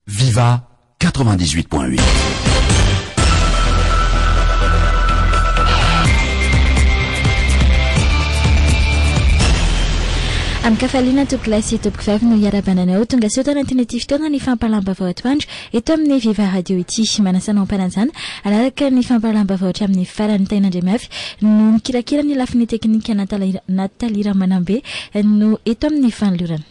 Viva 98 point 8. Amin-kafaliana tompoko lahy sy tompoko vavy no hiarabana anao tonga soa tao anatin'ity fotoana ny fampahalam-baovao atoandro eto amin'ny Viva Radio ity. Manasanao am-panajana araraka ny fampahalam-baovao hatramin'ny farany. Taina Andriamafy no mikirakira ny lafiny teknika, Nathalie Ramanambe no eto amin'ny fanolorana.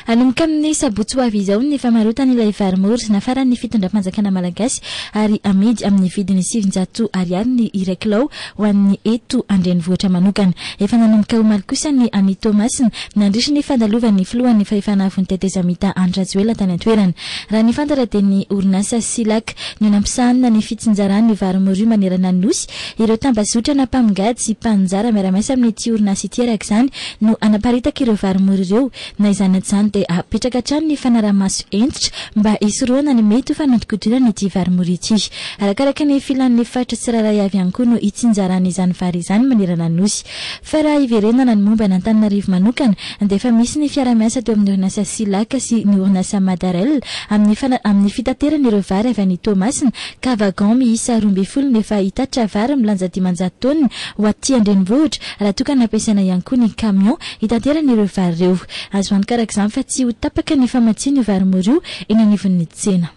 Hanomboka amin'ny sabotsy ho avy izao ny famarotana ilay vary mora nafaran'ny fitondram-panjakana malagasy ary amidy amin'ny vidiny sivinjato ariary ny iray kilao ho an'ny eto an-drenivohitra manokana. Efa nanomboka omaly kosa ny any Toamasina nandritra ny fandalovan'ny filohan'ny fahefana avon'ny tetezamita Andry Rajoelina tany an-toerana. Raha ny fantatra dia ny orinasa Silac no nampisahanina ny fitsinjarany vary mora manerana ny nosy Ireo tambazotra na mpamongady sy mpaninjara miara-miasa amin'ity orinasa ity araka izany no hanaparitaka ireo varimora ireo. Na izany na izany dia hapetraka hatrany ny fanaraha-maso hentitra mba hisorohana ny mety ho fanodinkodinana ity varimora ity. Arakaraka ny filan'ny faritra tsirairay avy ihany koa no hitsinjarana izany vary izany manerana ny Nosy. Fa raha hiverenana ny momba an'Antananarivo manokana dia efa misy ny fiara-miasa teo amin'ny orinasa Silac sy ny orinasa Madarel amin'ny amin'ny fitaterana ireo vary avy any Toamasina ka wagon miisa roa ambin'ny folo no efa hitatitra vary milanja dimanjato taonina ho aty an-drenivohitra, raha toa ka nampiasaina ihany koa ny camion hitaterana ireo vary ireo. Azo antoka araka izany fa tsy ho tapaka ny famatsian'io vary mora io eny anivon'ny tsena.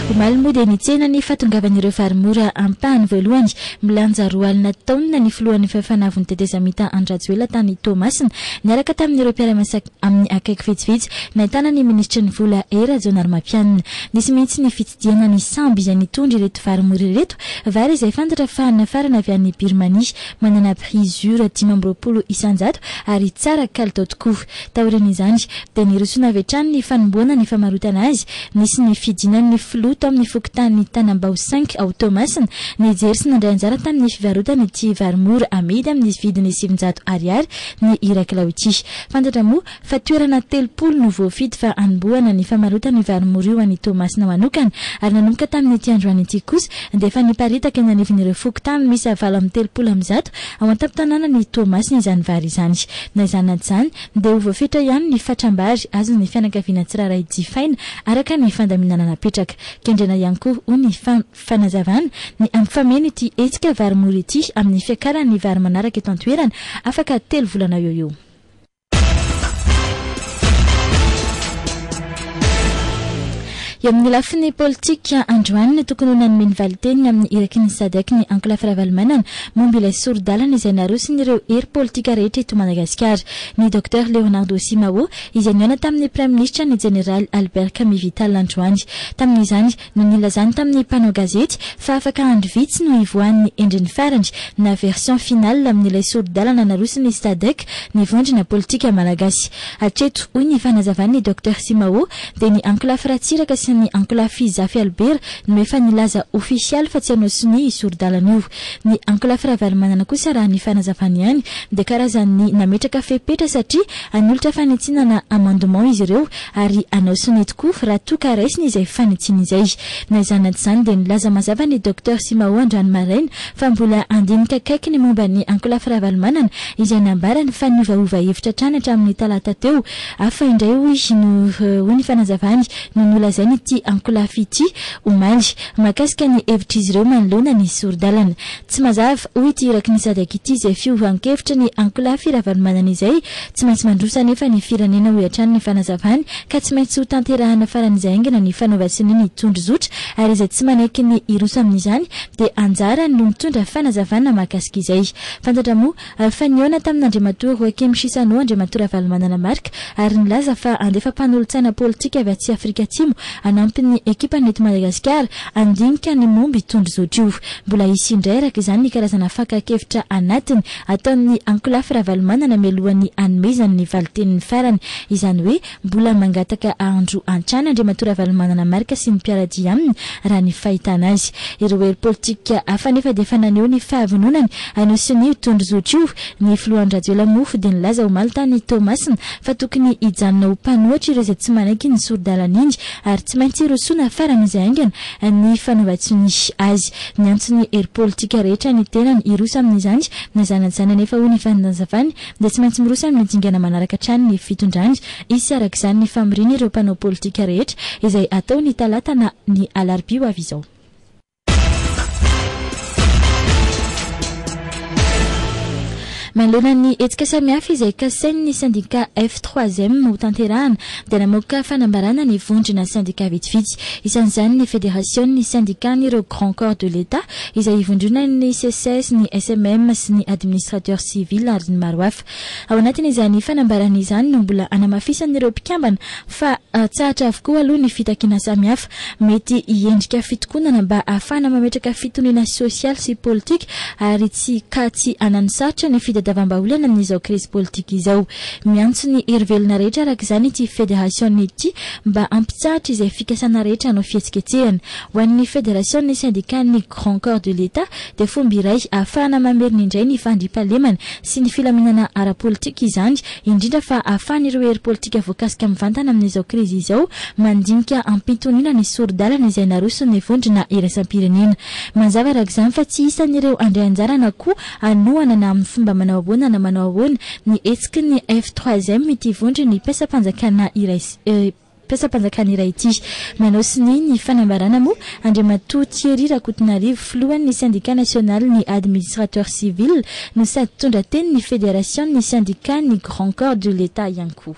Omaly moa dia nitsena ny fahatongavan'ireo vary mora ampahany voalohany, milanja roa alina taonina, ny filohan'ny fifanavon'ny tetezamita Andry Rajoelina tany Toamasina, niaraka tamin'ireo mpiara-miasa. Amin'ny akaiky vitsivitsy, nahitana ny minisitry ny Vola E Rajaonarimampianina. Nisy mihitsy ny fitsidihana ny sambo izay nitondra ireto vary mora ireto, vary izay fantatra fa nafarana avy any Birmania, manana prix ur dimy amby roapolo isan-jato ary tsara kalitao tokoa. Taorian'izany, dia nirosoana avy hatrany ny fanombohana ny famarotana azy. Nisy ny fidinan'ny filoha tao amin'ny fokontany Tanambao cinq ao Toamasina, nijery sy nandray anjara tamin'ny fivarotana ity vary mora amidy amin'ny vidiny sivinjato ariary ny iray kilao ity. Fantatra moa fa toerana telopolo no voafidy fa hanombohana ny famarotana io varimora io any Toamasina manokana ary nanomboka tamin'ity androany ity kosa dia efa niparitaka eny anivon'ireo fokontany miisa valo amby telopolo amby zato ao an-tampon-tanànan'i Toamasina izany vary izany. Na izany na tsy izany dia ho voafetra ihany ny fatram-bary azon'ny fianakaviana tsirairay jifaina araka ny fandaminana napetraka. Kendrena ihany koa hoy ny Fanazavana, Ny hampifameno ity hetsika vary mora ity amin'ny fiakaran'ny vary manaraka eto an-toerana, afaka telo volana eo ho eo. Eo amin'ny lafiny politika, androany no tokony ho nanome ny valin-teniny amin'ny iraky ny Sadc ny ankolafy Ravalomanana momba ilay sori-dalana izay narosin'ireo hery politika rehetra eto Madagasikara. Ny Docteur Leonardo Simao izay nihaona tamin'ny Praiminisitra ny Jeneraly Albert Kami Vital androany. Tamin'izany, no nilazany tamin'ny mpanao gazety fa afaka andro vitsy no hivoahan'ny endriny farany na version finale amin'ilay sori-dalana naroson'ny Sadc ny vondrona politika malagasy. Hatreto, hoy ny fanazavan'i Docteur Simao, dia ny ankolafy Ratsiraka sy ny ankolafy Zafy Albert no efa nilaza ofisialy fa tsy hanao sonia io sori-dalana io. Ny ankolafy Ravalomanana kosa raha ny fanazavany ihany dia karazan'ny nametraka fepetra satria hanolotra fanitsiana na amendement izy ireo ary hanao sonia tokoa raha toa ka raisina izay fanitsiana izay. Na izany na tsy izany dia nilaza mazava ny Docteur Simao androany maraina fa mbola handinika akaiky ny momba an'i Ankolafy Ravalomanana izay nambarany fa niovaova hevitra hatrany hatramin'ny talata teo. Hafa indray hoy no hoy ny fanazavany no nolazain'ity Ankolafy ity omaly mahakasika ny hevitr'izy ireo manoloana ny sori-dalana. Tsy mazava, hoy ity iraky ny Sadc ity, izay fiovan-kevitry ny ankolafy Ravalomanana izay. Tsy maintsy mandroso anefa ny firenena, hoy hatrany ny fanazavany, ka tsy maintsy hotanterahana faran'izay haingana ny fanaovan-sonia ny tondrozotra, ary izay tsy manaiky ny hiroso amin'izany dia anjarany no mitondra fanazavana mahakasika izay. Fantatra moa. Ary fa nihaona tamin'Andriamatoa Roakim Chissano Andriamatoa Ravalomanana Marc ary nilaza fa handefa mpanolotsaina politika avy aty Afrika Atsimo hanampy ny ekipany eto Madagasikara handinika ny momba itony zotra io. Mbola hisy indray araka izany ny karazana fakan-kevitra anatiny ataon'ny ankolafy Ravalomanana mialohan'ny hanomezany ny valin-teniny farany izany hoe Mbola mangataka andro hatrany Andriamatoa Ravalomanana Marc sy ny mpiara-dia aminy raha ny fahitana azy. Ireo hery politika hafa anefa dia efa naneho ny fahavononany hanao sonia io tondrozotra io. Ny filoha Andry Rajoelina moa dia nilaza omaly tany Toamasina fa tokony hijanona ho mpanohitra ireo izay tsy manaiky ny sori-dalana iny ary tsy maintsy rosoina faran'izay haingana ny fanaovan-tsonia azy. Niantso ny hery politika rehetra ny tenany hiroso amin'izany na zanany izany anefa hoy ny fanazavany dia tsy maintsy miroso amin'ny dingana manaraka hatrany ny fitondrany. Hisy araka izany ny famoriana ireo mpanao politika rehetra, izay hatao ny talata na ny alarobia ho avy izao. Manoloana ny hetsika samihafa izay kasain'ny sendika F3M ho tanterahana, dia namoaka fanambarana ny vondrona sendika vitsivitsy. Isan'izany ny Federasion'ny Sendikan'ireo Grands Corps de l'Etat, izay ivondronan'ny Seces, ny SMM sy ny Administrateur Civil ary ny maro hafa. Ao anatin'izany fanambarana izany no mbola hanamafisan'ireo mpikambana fa tsahatra avokoa aloha ny fitakiana samihafa mety hiendrika fitokonana mba hahafahana mametraka fitoniana sosialy sy politika ary tsy ka tsy hananosarotra ny fitadiavam-bahaolana amin'izao krizy politika izao. Miantso ny herivelona rehetra araka izany ity Federasiona ity mba hampitsahatra izay fikasana rehetra hanao fihetsiketsehana Ho an'ny Federasion'ny Sendikàn'ny Grand Corps de l'Etat dia fomba iray ahafahana mamerina indray ny fandriampahalemana sy ny filaminana ara-politika izany, indrindra fa ahafahan'ireo hery politika voakasika mivantana amin'izao krizy izao mandinika am-pitoniana ny sori-dalana izay naroson'ny vondrona iraisam-pirenena. Mazava araka izany fa tsy isan'ireo handray anjara na koa hanohana na amin'ny fomba manao ahoana na manao ahoana ny hetsiky ny F3M ity vondron'ny mpiasam-panjakana iray mpiasam-panjakana iray ity. Manao sonia ny fanambarana moa Andriamatoa Thierry Rakotonarivo, filohan'ny Sendika nasionalin'ny Administrateurs civils no sady mpitondra tenin'ny Federasion'ny Sendikàn'ny Grands Corps de l'Etat ihany koa.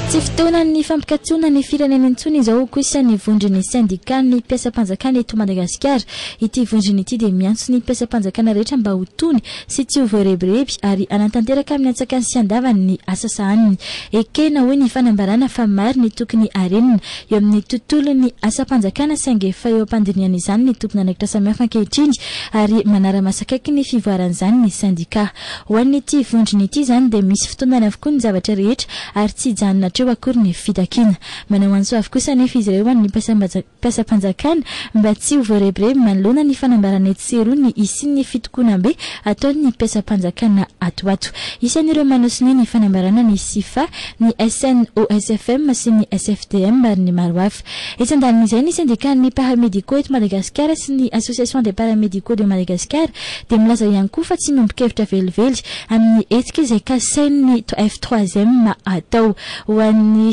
Tsy fotoanan'ny fampikatsoana ny firenena intsony izao kosa ny vondron'ny Sendikàn'ny mpiasam-panjakana eto Madagasikara. Ity vondrona ity dia miantso ny mpiasam-panjakana rehetra mba ho tony, sy tsy ho voarebireby ary hanatanteraka amin'ny antsakany sy andavany ny asa sahaniny. Ekena hoy ny fanambarana fa maro ny tokony harenina eo amin'ny tontolon'ny asam-panjakana saingy efa eo am-pandinihana izany ny tompon'andraikitra samihafa ankehitriny ary manara-maso akaiky ny fivoaran'izany ny sendikà. Ho an'ity vondrona ity izany dia misy fitondany avokoa ny zavatra rehetra ary tsy hijanona hatreo akory ny fitakiana. Manao antso avo kosa anefa izy ireo ho an'ny mpasam-. mpiasam-panjakana mba tsy ho voarebireby manoloana ny fanambarana etsy sy eroa ny hisian'ny fitokonam-be ataon'ny mpiasam-panjakana ato ho ato. Isan'ireo manao sonia ny fanambarana ny Sifa, ny SNOSFM sy ny SFDM ary ny maro hafa. Etsy andanin'izay, ny sendikan'ny Paramédicaux eto Madagasikara sy ny Association des Paramédicaux de Madagascar dia milaza ihany koa fa tsy miombon-kevitra velively amin'ny hetsika izay kasain'ny F3M atao ho an'ny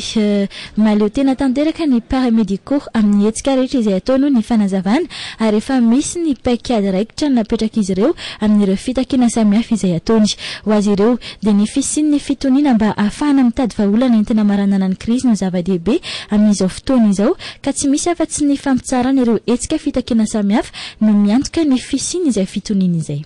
Mahaleo tena tanteraka ny paramédicaux amin'ny hetsika rehetra izay atao noho ny fanazavana ary efa misy ny paikady raikitra napetrak'izy ireo amin'ireo fitakiana samihafa izay ataony. Ho azy ireo, dia ny fisian'ny fitoniana mba hahafahana mitady vahaolana entina maranana ny krizy no zava-dehibe amin'izao fotoana izao ka tsy misy afa-tsy ny fampitsarana ireo hetsika fitakiana samihafa no miantoka ny fisian'izay fitoniana izay.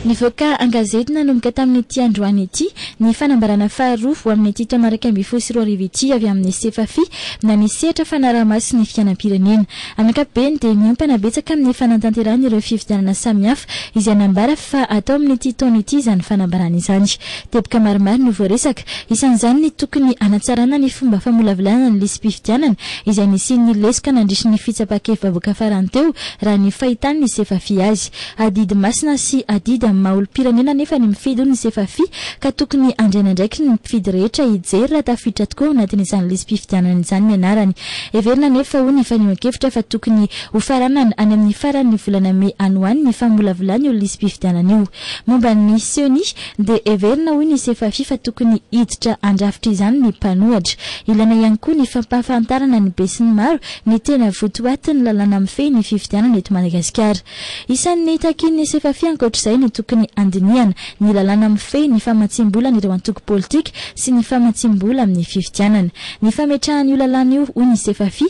Nivoaka an-gazety nanomboka tamin'ity androany ity ny fanambarana faharoa ho amin'ity taona iraika ambin'ny folo sy roa arivo ity avy amin'ny Sefafi na ny sehatra fanaraha-maso ny fiainam-pirenena. Amin'ny ankapobeny dia miompana betsaka amin'ny fanatanterahana ireo fifidianana samihafa izay nambara fa hatao amin'ity taona ity izany fanambarana izany. Teboka maromaro no voaresaka, isan'izany ny tokony hanatsarana ny fomba famolavolana ny lisi-pifidianana izay nisian'ny lesoka nandritry ny fitsapa-kevi-bahoaka farany teo, raha ny fahitan'ny Sefafi azy. Adidy masina sy adidy amin'ny maha olom-pirenena anefa ny mifidy hoy ny Sefafi ka tokony handray ny andraikiny ny mpifidy rehetra hijery raha tafiditra tokoa ao anatin'izany lisi-pifidianana izany ny anarany. Heverina anefa hoy ny fanehoan-kevitra fa tokony hofaranana any amin'ny faran'ny volana mey any ho any ny famolavolana io lisi-pifidianana io. Momba ny ceni dia heverina hoy ny Sefafi fa tokony hiditra handrafitra izany ny mpanohatra. Ilaina ihany koa ny fampahafantarana ny besinimaro ny tena votoatin'ny lalàna mifehy ny fifidianana eto Madagasikara. Isan'ny takin'ny Sefafi ankoatra izay ny tokony handinihana ny lalàna mifehy ny famatsiam-bolan'ireo antoko politika sy ny famatsiam-bola amin'ny fifidianana. Ny fametrahana io lalàna io hoy ny Sefafi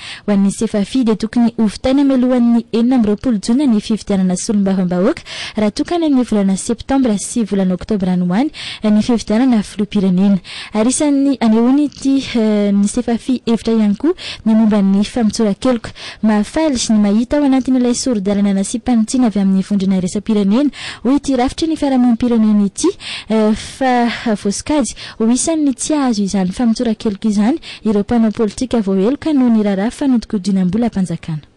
Ho an'ny Sefafi dia tokony ho vitaina mialohan'ny enina amby roapolo jona ny fifidianana solombavambahoaka raha toa ka any amin'ny volana septambra sy volana oktobra any ho any ny fifidianana filoham-pirenena ary isan'ny anehoany ity ny Sefafi hevitra ihany koa ny momba ny famotsoran-keloka. Mahafaly ny mahita ao anatin'ilay sori-dalana nasiam-panitsiana avy amin'ny vondrona iraisam-pirenena hoy ity rafitry ny fiarahamonim-pirenena ity fa voasokajy ho isan'ny tsy hahazo izany famotsoran-keloka izany Ireo mpanao politika voaheloka no niraharaha fa nodikodinam-bolam-panjakana.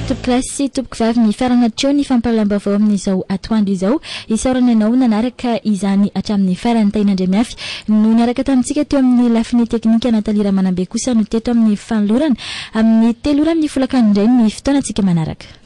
Tompokolahy sy tompokovavy mifarana hatreo ny fampahalalam-baovao amin'izao atoandro izao. Isaorana ianao nanaraka izany hatramin'ny farany. Tahina Andriamihafy no niaraka tamintsika teo amin'ny lafiny teknika, Nathalie Ramanambe kosa no teto amin'ny fanolorana. Amin'ny telo ora mifolaka indray ny fotoanantsika manaraka.